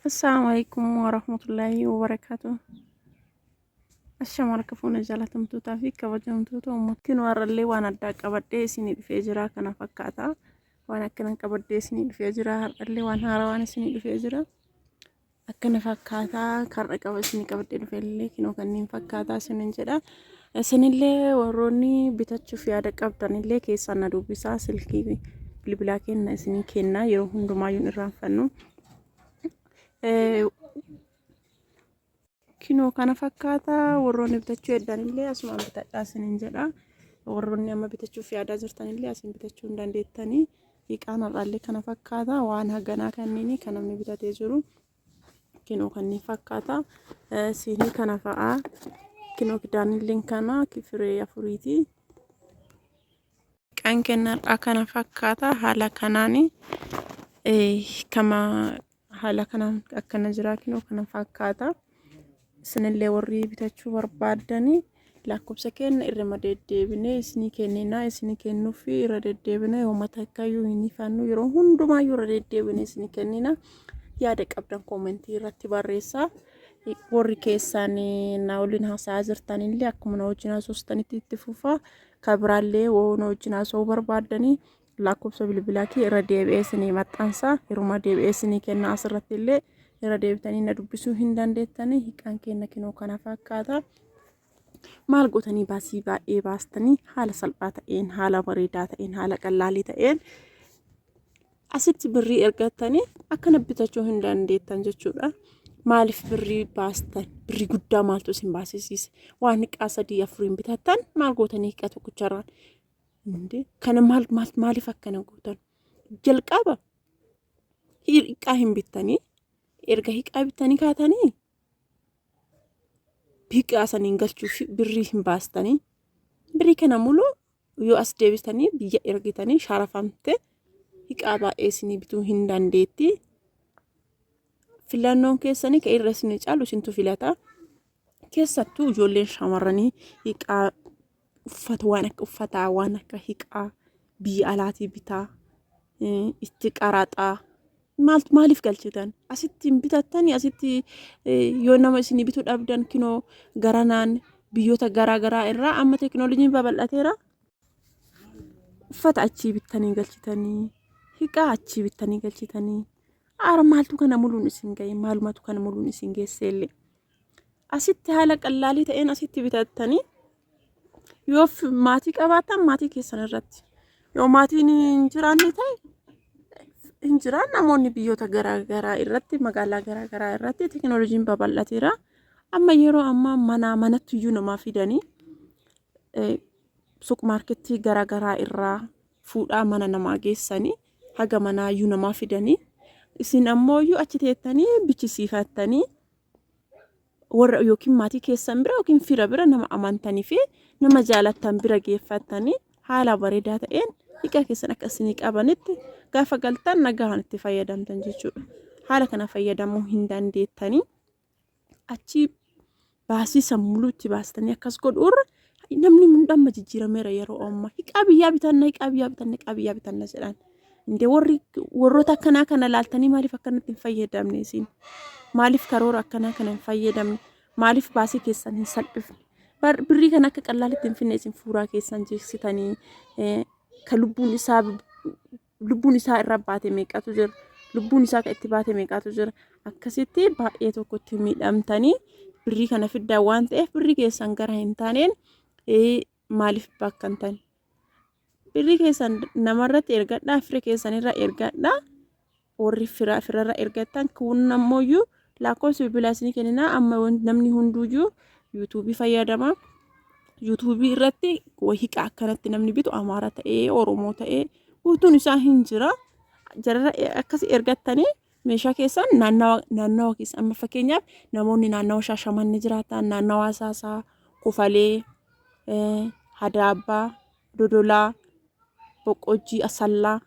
Assalamu alaikum warahmatullahi wabarakatuh. Ashama harka fuuna jaalatamtootaa fi kabajamtoota uummattiin warrallee waan addaa qabadhee isinii dhufee jira kana fakkaata. Waan akkanan qabadhee isinii dhufee jira har'allee waan haarawaan isinii dhufee jira. Akkana fakkaata kar'a qaba isinii qabadhee dhufellee kinoo kanneen fakkaata isinin jedha. Isinillee warroonni bitachuuf yaada qabdanillee keessaan na dubbisaa silkii bilbilaa kenna isinii kenna yeroo hundumaayyuun irraanfannu. Kinoo kana fakkaata warroonni bitachuu heddanillee asumaan bitadhaa isiniin jedha. Warroonni amma bitachuuf yaadaa jirtanillee asiin bitachuu hin dandeettanii. Hiiqaan har'aallee kana fakkaata waan haganaa kanneenii kan namni bitatee jiru. kinoo kanneen fakkaata siinii kana fa'aa kinoo kidaanilleen kana firee afuriiti. Kan kennarraa kana fakkaata haala kanaan kama haala kanaan akkana jiraa kinoo kana fakkaata. Isinillee warri bitachuu barbaaddanii lakkoofsa keenna irrima deddeebinee isinii kenninaa isinii kennuufi irra deddeebinee hooma takkayyuu hin hifannu yeroo hundumaayyuu irra deddeebinee isinii kennina yaada qabdan koomentii irratti barreessaa warri keessaan na waliin haasa'aa jirtanillee akkuma na wajjin haasofsitanitti itti fufaa kabiraallee woo na wajjin haasa'uu barbaaddanii Lakkoofsa bilbilaa kee irra deebi'ee isinii maxxansa. Yeruma deebi'ee isinii kenna asirratti illee irra deebitanii na dubbisuu hin dandeettanii hiikaan kenna kinoo kana fakkaata. maal gootanii baasii baay'ee baastanii haala salphaa ta'een haala bareedaa ta'een haala qallaalii ta'een asitti birrii ergattanii akkana bitachuu hin dandeettan jechuudha. Maaliif birrii baastan birrii guddaa maaltu isin baasisiise waan hiiqaa sadii afuriin bitattan maal gootanii hiiqaa tokkicharraan Kana maal maaliif akkana gootan? Jalqaba hiiqaa hin bittanii erga hiiqaa bittanii kaatanii hiiqaa saniin galchuuf birrii hin baastanii birrii kana muluu yoo as deebistanii biyya ergitanii sharafamte hiiqaa baay'ee isinii bituu hin dandeetti. Filannoon keessanii ka irra isinii caalu isintu filata. Keessattuu ijoolleen shamarranii hiiqaa uffata waan akka uffataa waan akka hiqaa biyya alaatii bitaa itti qaraxaa maaltu maaliif galchitan asitti hin bitattani asitti yoo nama isin bituu dhabdan kinoo garanaan biyyoota garaa garaa irraa amma teekinooloojiin babal'ateera uffata achii bittanii galchitanii hiqaa achii bittanii galchitanii aara maaltu kana muluun isin ga'e maalumatu kana muluun isin geesseellee. asitti haala qallaalii ta'een asitti bitattanii yoo maatii qabaatan maatii keessan irratti yoo maatiin hin jiraanne ta'e hin jiraan namoonni biyyoota garaagaraa irratti magaalaa garaagaraa irratti teekinooloojiin babal'ateera amma yeroo ammaa manaa manatti iyyuu namaa fidanii suuqmaarkettii garaagaraa irraa fuudhaa mana namaa geessanii haga manaa iyyuu namaa fidanii isin ammoo iyyuu achi teettanii bichisiifattanii warra yookiin maatii keessan bira yookiin fira bira nama amantanii fi nama jaalattan bira geeffattanii haala bareedaa ta'een dhiqaa keessan akka isinii qabanitti gaafa galtan nagahaan itti fayyadamtan jechuudha. Haala kana fayyadamuu hin dandeettanii achi baasii sammuluu itti baastanii akkas godhuurra Namni hundamma jijjiirameera yeroo ammaa. Hiqaa biyyaa bitanna, hiqaa biyyaa bitanna, hiqaa biyyaa bitanna jedhan. Inde warri warroota akkanaa kana laaltanii maaliif akkanatti hin fayyadamne isin? Maaliif karoora akkanaa kana hin fayyadamne? Maaliif baasii keessan hin salphifne? Bar- Birrii kana akka qallaalitti hin finne isin fuuraa keessan jeeksitanii eh, ka lubbuun isaa lubbuun isaa irra baate meeqatu jira lubbuun isaa kan itti baate meeqatu jira akkasitti baay'ee tokkotti miidhamtanii birrii kana fiddaa waan ta'eef birrii keessan gara hin taaneen maaliif bakkantan birrii keessan namarratti ergadhaa fira keessanirra ergadhaa warri fira firarra ergattan kun ammoo Lakkoofsi bilbilaa isinii kenninaa amma wan- namni hunduuyyuu yuutuubii fayyadama. Yuutuubii irratti wahiqa akkanatti namni bitu Amaara ta'ee Oromoo ta'ee guutuun isaa hin jira. Jarara akkas ergattanii meeshaa keessan naannawa naannawa keessa amma fakkeenyaaf namoonni naannawa Shaashamannee jiraatan naannawa Asaasaa, Kofalee, eh, Hadaabbaa, Dodolaa, Boqqojjii, Asallaa,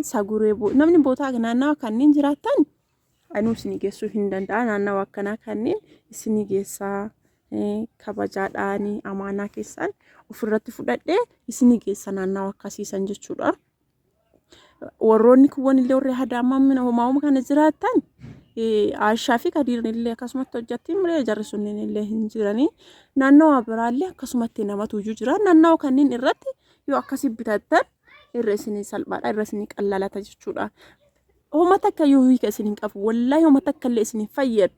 Saguree, Bo- namni bootaa naannawa kanneen jiraatan anuu isinii geessuu hin danda'a naannawa akkanaa kanneen isinii geessaa kabajaadhaani amaanaa keessaan ofirratti fudhadhee isinii geessa naannawa akkasiisan jechuudha. Warroonni kuwwan illee warri hadaamamina homaa'uma kana jiraatan Aashaa fi Kadiirni illee akkasumatti hojjatti malee jarri sunniin illee hin jiranii naannawa biraallee akkasumatti namatu iyyuu jira naannawa kanneen irratti yoo akkasii bitattan irra isinii salphaadha irra isinii qallalata jechuudha. Homa takka yoo hiika isin hin qabu wallaahi homa takka illee isin hin fayyadu.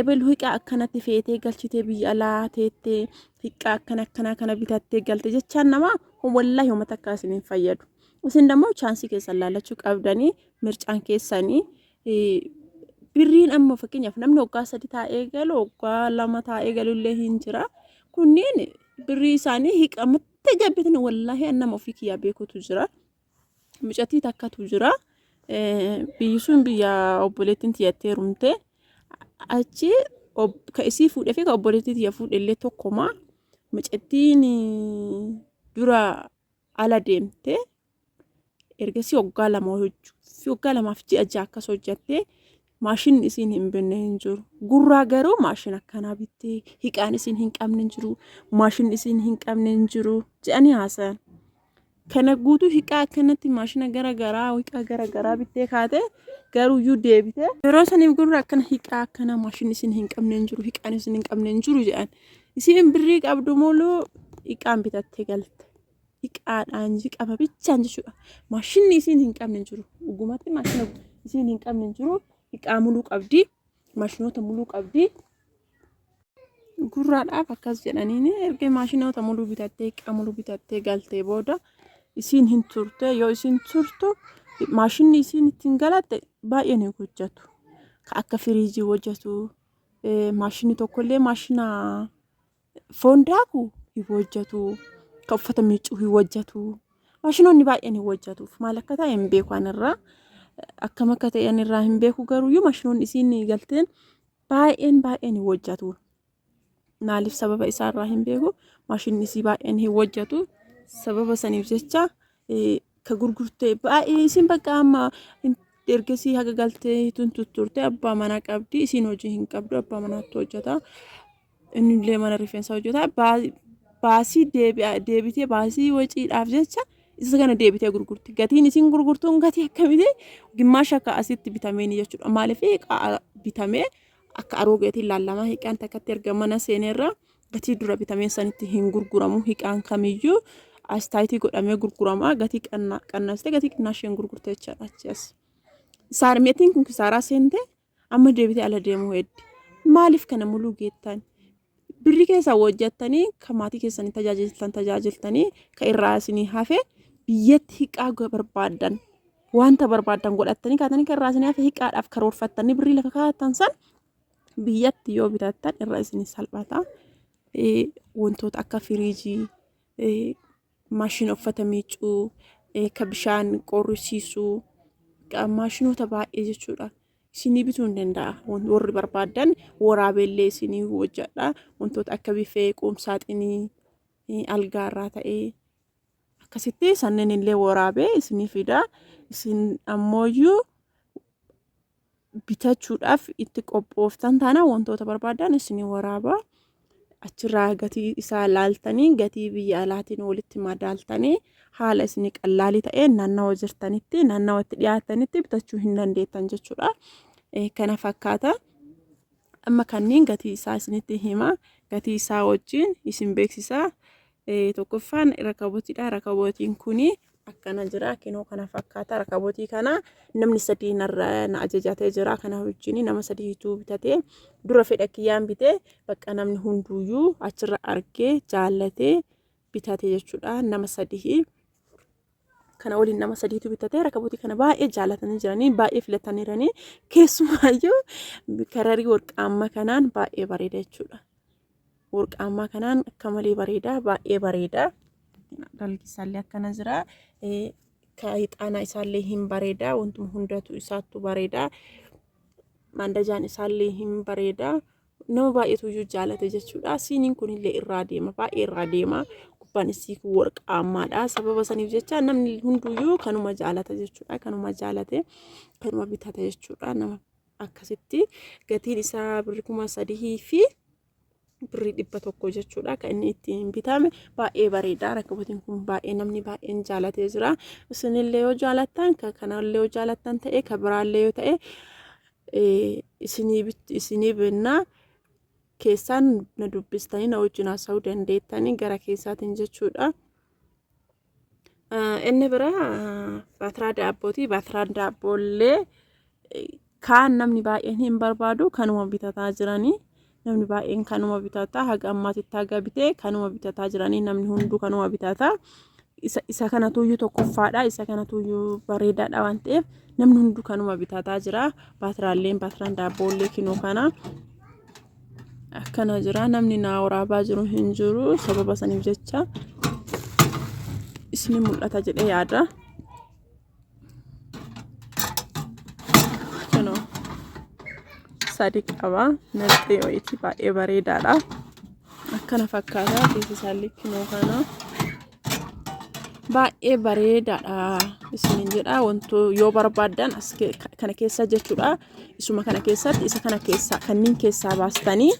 Ebelu hiiqaa akkanatti feetee galchitee biyya alaa teettee hiiqaa akkana akkanaa kana bitattee galte jechaan namaa wallaahi homa takka isin hin fayyadu. Isin dammoo chaansii keessan laalachuu qabdanii mircaan keessanii birriin amma fakkeenyaaf namni waggaa sadi taa'ee galu waggaa lama taa'ee galu illee hin jira. Kunneen birrii isaanii hiiqamatti gabbitanii wallaahi nama ofii kiyyaa beekutu jira. mucattii takkatu jira. Biyyi sun biyya obboleettiin tiyyattee rumte. Achi ka isii fuudhee fi ka obboleettii tiyya fuudhellee tokkuma. Mucattiin dura ala deemte. Ergasii waggaa lama hojjuu fi waggaa lamaaf ji'a ja'a akkas hojjattee Maashinni isiin hin binne hin jiru. Gurraa garuu maashina akkanaa bittee hiqaan isiin hin qabne hin jiru. Maashinni isiin hin qabne hin jiru. Jedhanii haasa'an. Kana guutuu hiqaa akkanatti maashina gara garaa hiqaa gara garaa bittee kaatee garuuyyuu deebitee yeroo saniif gurra akkana hiqaa akkana maashinni isiin hin qabne hin jiru. Hiqaan isiin hin qabne hin jiru jedhan. Isiin birrii qabdu muluu hiqaan bitattee galte. Xiqqaadhaan qaba bichaan jechuudha. Maashinni isiin hin qabne hin jiru. Dhugumatti maashina isiin hin qabne hin jiru. Xiqqaa muluu qabdi. Maashinoota muluu qabdi. Gurraadhaaf akkas jedhaniin erga maashinoota muluu bitattee xiqqaa muluu bitattee galtee booda isiin hin turte yoo isiin turtu maashinni isiin ittiin galatte baay'een hin hojjetu. Ka akka firiijii hojjetu maashinni tokkollee maashina Foon daakuu hin hojjetu. Kan uffata miiccuu hin hojjetu. Maashinoonni baay'een hin hojjetuuf. Maal akka ta'e hin beeku anirraa. Akkam akka ta'e anirraa hin beeku garuu iyyuu maashinoonni isiin galteen baay'een baay'een hin hojjetu. Maaliif sababa isaarraa hin beeku. Maashinni isii baay'een hin hojjetu. Sababa saniif jecha ka gurgurte baay'ee isin bakka amma ergasii haga galtee tun tutturte abbaa manaa qabdi isin hojii hin qabdu abbaa manaatti hojjeta innillee mana rifeensaa hojjeta baasii deebitee baasii waciidhaaf jecha isa kana deebitee gurgurti gatiin isin gurgurtuun gatii akkamiti gimmaasha akka asitti bitameen jechuudha maaliif bitamee akka aroogeetiin laallamaa hiiqaan takkatti erga mana seeneerraa gatii dura bitamee sanitti hin gurguramu hiqaan kamiyyuu astaayitii godhamee gurgurama gatii qannastee gatii qinnaasheen gurgurte jechaadha achas saarmeetiin kun kisaaraa seente amma deebitee ala deemuu heddi maaliif kana muluu geettan birri keessaa hojjettanii kan maatii keessanii tajaajiltan tajaajiltanii kan irraa isinii hafe biyyatti hiqaa barbaadan wanta barbaadan godhattanii kaatanii kan irraa isinii hafe hiqaadhaaf karoorfattanii birrii lafa kaa'atan san biyyatti yoo bitattan irra isin salphata. Wantoota akka firiijii, maashina uffata miicuu, ka bishaan qorrisiisuu, maashinoota baay'ee jechuudha. Isinii bituu hin danda'a. Warri barbaadan waraabeellee isinii hojjedha. Wantoota akka bifee, qoomsaaxinii, algaa irraa ta'ee akkasitti sanniin illee waraabee isinii fida. Isin ammooyyuu bitachuudhaaf itti qophooftan taana wantoota barbaadan isin waraaba achirraa gatii isaa laaltanii gatii biyya alaatiin walitti madaaltanii haala isin qallaalii ta'een naannawa jirtanitti naannawa itti dhiyaatanitti bitachuu hin dandeettan jechuudha kana fakkaata amma kanneen gatii isaa isinitti hima gatii isaa wajjin isin beeksisaa Tokkoffaan rakabotidha. Rakabotiin kun akkana jira. Kinoo kana fakkaata. Rakabotii kana namni sadii narra na ajajatee jira. Kana wajjin nama sadiitu bitatee dura fedha kiyyaan bitee bakka namni hunduuyyuu achirra argee jaallatee bitate jechuudha. Nama sadii. kana waliin nama sadiitu bitatee rakabotii kana baay'ee jaalatanii jiranii baay'ee filataniiranii keessumaayyuu kararii warqaammaa kanaan baay'ee bareeda jechuudha. Warqaammaa kanaan akka malee bareeda baay'ee bareeda. Dalgi isaallee akkana jira. Kaayixaanaa isaallee hin bareeda wantuma hundatu isaattu bareeda. Mandajaan isaallee hin bareeda. nama baay'eetu iyyuu jaalate jechuudha. Siiniin kunillee irraa deema baay'ee irraa deema. Gubbaan isii kun warqaamaadha. Sababa saniif jecha namni hunduyyuu kanuma jaalata jechuudha. Kanuma jaalate kanuma bitata jechuudha. Nama akkasitti gatiin isaa birri kuma sadihii fi birrii dhibba tokko jechuudha kan inni ittiin bitame baay'ee bareeda rakkabatiin kun baay'ee namni baay'een jaalatee jira isinillee yoo jaalattan kanallee yoo jaalattan ta'e kan biraallee yoo ta'e isinii bennaa keessaan na dubbistanii na wajjin haasa'uu dandeettanii gara keessaatiin jechuudha. Inni biraa baatiraa daabbooti. Baatiraan daabboollee kaan namni baay'een hin barbaadu kanuma bitataa jiranii. namni baay'een kanuma bitata haga ammaatitti haga bitee kanuma bitataa jiranii namni hunduu kanuma bitata isa isa kana tuyyuu tokkoffaadha isa kana tuyyuu bareedaadha waan ta'eef namni hunduu kanuma bitataa jira baatiraalleen baatiran daabboollee kinoo kana akkana jira namni naa waraabaa jiru hin jiru sababa saniif jecha isni mul'ata jedhee yaada. sadi qaba naqxee wayitii baay'ee bareedaadha akkana fakkaataa keessa isaan likkimoo kana baay'ee bareedaadha isiniin jedha wanto yoo barbaaddan as kana keessa jechuudha isuma kana keessatti isa kana keessaa kanniin keessaa baastanii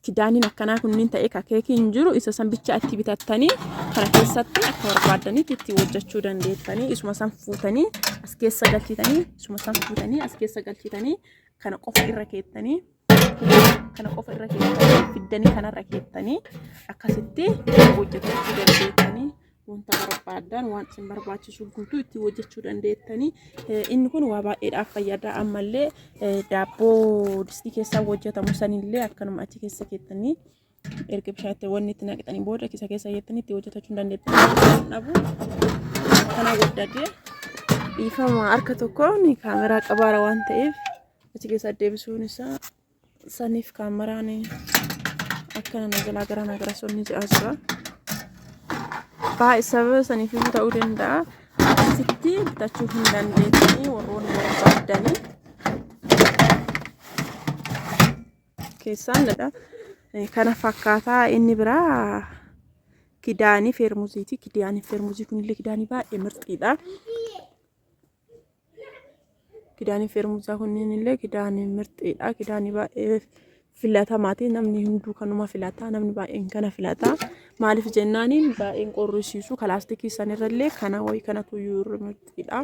Kidaaniin akkanaa kunniin ta'ee ka keekii hin jiru isa san bicha itti bitattanii kana keessatti akka barbaaddanitti itti hojjechuu dandeettanii isuma san fuutanii as keessa galchitanii isuma san fuutanii as keessa galchitanii kana qofa irra keettanii kana qofa irra keettanii fiddanii kanarra keettanii akkasitti hojjetachuu dandeettanii. wanta barbaadan waan isin barbaachisu guutuu itti hojjechuu dandeettanii inni kun waa baay'eedhaaf fayyada ammallee daabboo distii keessaa hojjetamu sanillee akkanuma achi keessa keessanii erga bishaatti wanni itti naqxanii booda kisa keessa jettanii itti hojjetachuu dandeettanii dhabu kana guddate dhiifama harka tokkoon kaameraa qabaara waan ta'eef achi keessa deebisuun isaa Saniif kaameraan akkana na jalaa gara na gara sonni ja'a jira. Baay'ee sababa saniif iyyuu ta'uu danda'a. Asitti bitachuu hin dandeessanii warroonni barbaaddanii keessaan dha. Kana fakkaataa inni biraa kidaanii feermuziiti. Kidaanii feermuzii kunillee kidaanii baay'ee mirxiidha. Kidaanii feermusaa kunniin illee kidaanii mirxiidha. Kidaanii baay'ee filatamaati. Namni hunduu kanuma filata. Namni baay'een kana filata. Maaliif jennaaniin baay'een qorrisiisu. Kalaastikii sanirrallee kana wayii kanatu iyyuu irra mirxiidha.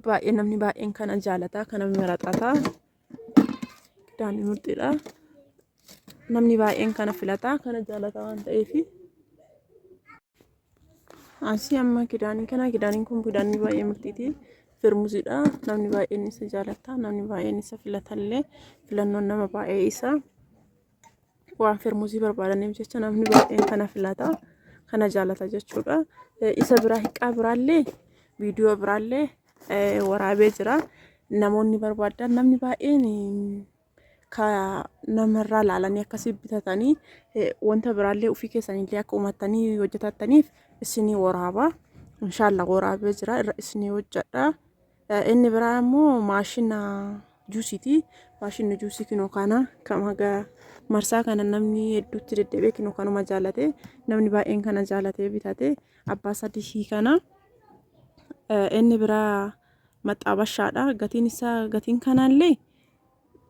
Baay'ee namni baay'een kana jaalata. Kana maraxata. Daanii murxiidha. Namni baay'een kana filata. Kana jaalata waan ta'eef. Asii amma kidaanii kana kidaaniin kun kidaanii baay'ee murxiiti. Firmuziidha. Namni baay'een isa jaalata. Namni baay'een isa filatallee filannoon nama baay'ee isa. waan firmuuzii barbaadaniif jecha namni baay'een kana filata kana jaalata jechuudha isa biraa hiqqaa biraallee viidiyoo biraallee waraabee jira namoonni barbaadan namni baay'een ka namarraa laalanii akkasii bitatanii wanta biraallee ofii keessanillee akka uummattanii hojjetattaniif isinii waraaba. Inshaallah waraabee jira irra isinii hojjedha. Inni biraa immoo maashina juusiiti. Maashinni juusii kinoo kana kam haga marsaa kana namni hedduutti deddeebi'ee kinoo kanuma jaalate namni baay'een kana jaalatee bitate abbaa sadii kana. Inni biraa maxxaabashaadha. Gatiin isaa gatiin kanaallee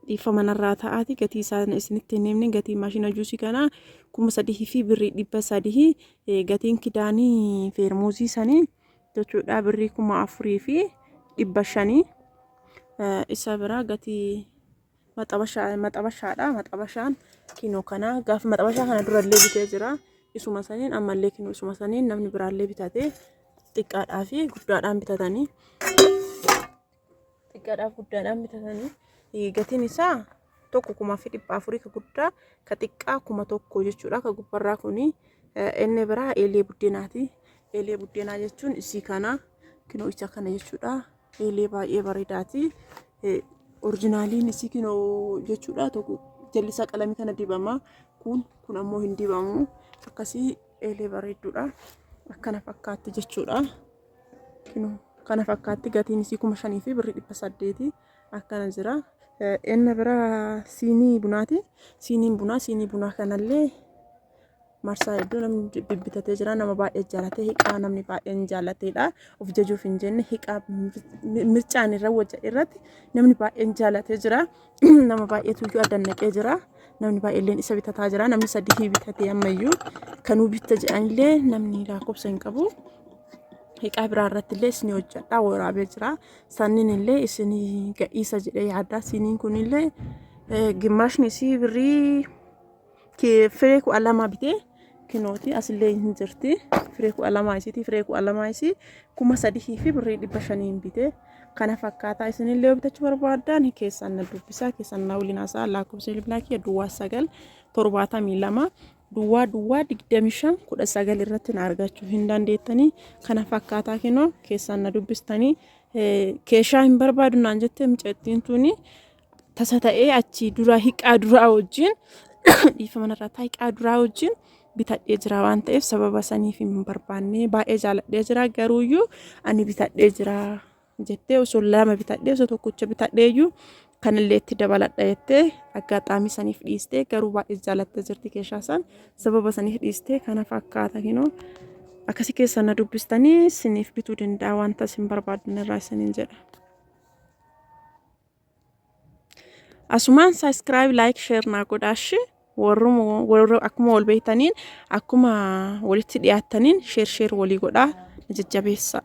dhiifama narraa ta'aati gatii isaa isinitti hin himne gatii maashina juusii kanaa kuma sadii fi birrii dhibba sadii gatiin kidaanii feermuuzii sanii. jechuudha birrii kuma afurii fi dhibba shanii isa biraa gatii maxabashaadha maxabashaan kinoo kana gaaf maxabashaa kana durallee bitee jira isuma saniin ammallee kinoo isuma saniin namni biraallee bitatee xiqqaadhaa fi guddaadhaan bitatanii xiqqaadhaaf guddaadhaan bitatanii gatiin isaa tokko kumaa fi dhibba afurii ka guddaa ka xiqqaa kuma tokko jechuudha ka gubbarraa kuni inni biraa eelee buddeenaati eelee buddeenaa jechuun isii kana kinoo isa kana jechuudha eelee baay'ee bareedaati orjinaaliin isii kinoo jechuudha tokko jallisaa qalamii kana dibama kun kun ammoo hin dibamu akkasii eelee bareedduudha akkana fakkaatti jechuudha. Kino kana fakkaatti gatiin isii kuma shanii fi birrii dhibba saddeeti akkana jira. Enna bira siinii bunaati. Siiniin bunaa siinii bunaa kanallee marsaa hedduu namni bibbitatee jira nama baay'ee jaalatee hiqaa namni baay'een jaalateedha of jajuuf hin jenne hiqaa mircaan irra wajja irratti namni baay'een jaalatee jira nama baay'eetu iyyuu addan naqee jira. Namni baay'eelleen isa bitataa jira. Namni sadii bitatee ammayyuu kanuu bitta jedhanillee namni lakkoofsa hin qabu. Hiqaa biraa irratti illee isin hojjedhaa waraabee jira. Sanniin illee isin gadhiisa jedhee yaaddaa. Siiniin kun illee gimmaashni isii birrii Firee kudha lama bitee kinooti asillee hin jirti. Firee kudha lama isiiti. Firee kudha lama isii kuma sadihii fi birrii dhibba shaniin bitee kana fakkaataa isinillee yoo bitachuu barbaaddan keessan na dubbisaa keessan na waliin haasa'aa lakkoofsa bilbilaa kiyya duwwaa sagal torbaatamii lama duwwaa duwwaa digdamii shan kudha sagal irratti na argachuu hin dandeettanii kana fakkaataa kinoo keessan na dubbistanii keeshaa hin barbaadu naan jettee mucattiin tuni tasa ta'ee achi duraa hiqaa duraa wajjin dhiifama irraa taa hiqaa duraa wajjin bitadhee jira waan ta'eef sababa saniif hin barbaanne baay'ee jaaladhee jira garuuyyuu ani bitadhee jira jettee osoo lama bitadhee osoo tokkocha bitadheeyyuu kanillee itti dabaladha jettee aggaxaamii saniif dhiistee garuu baay'ee jaalattee jirti keeshaa san sababa saniif dhiistee kana fakkaata kinoo akkasi keessa na dubbistanii siniif bituu danda'a wanta isin barbaaddan irraa isiniin jedha. Asumaan subscribe like share naa godhaa shi warruma warra akkuma wal beektaniin akkuma walitti dhiyaattaniin share share walii godhaa na jajjabeessaa.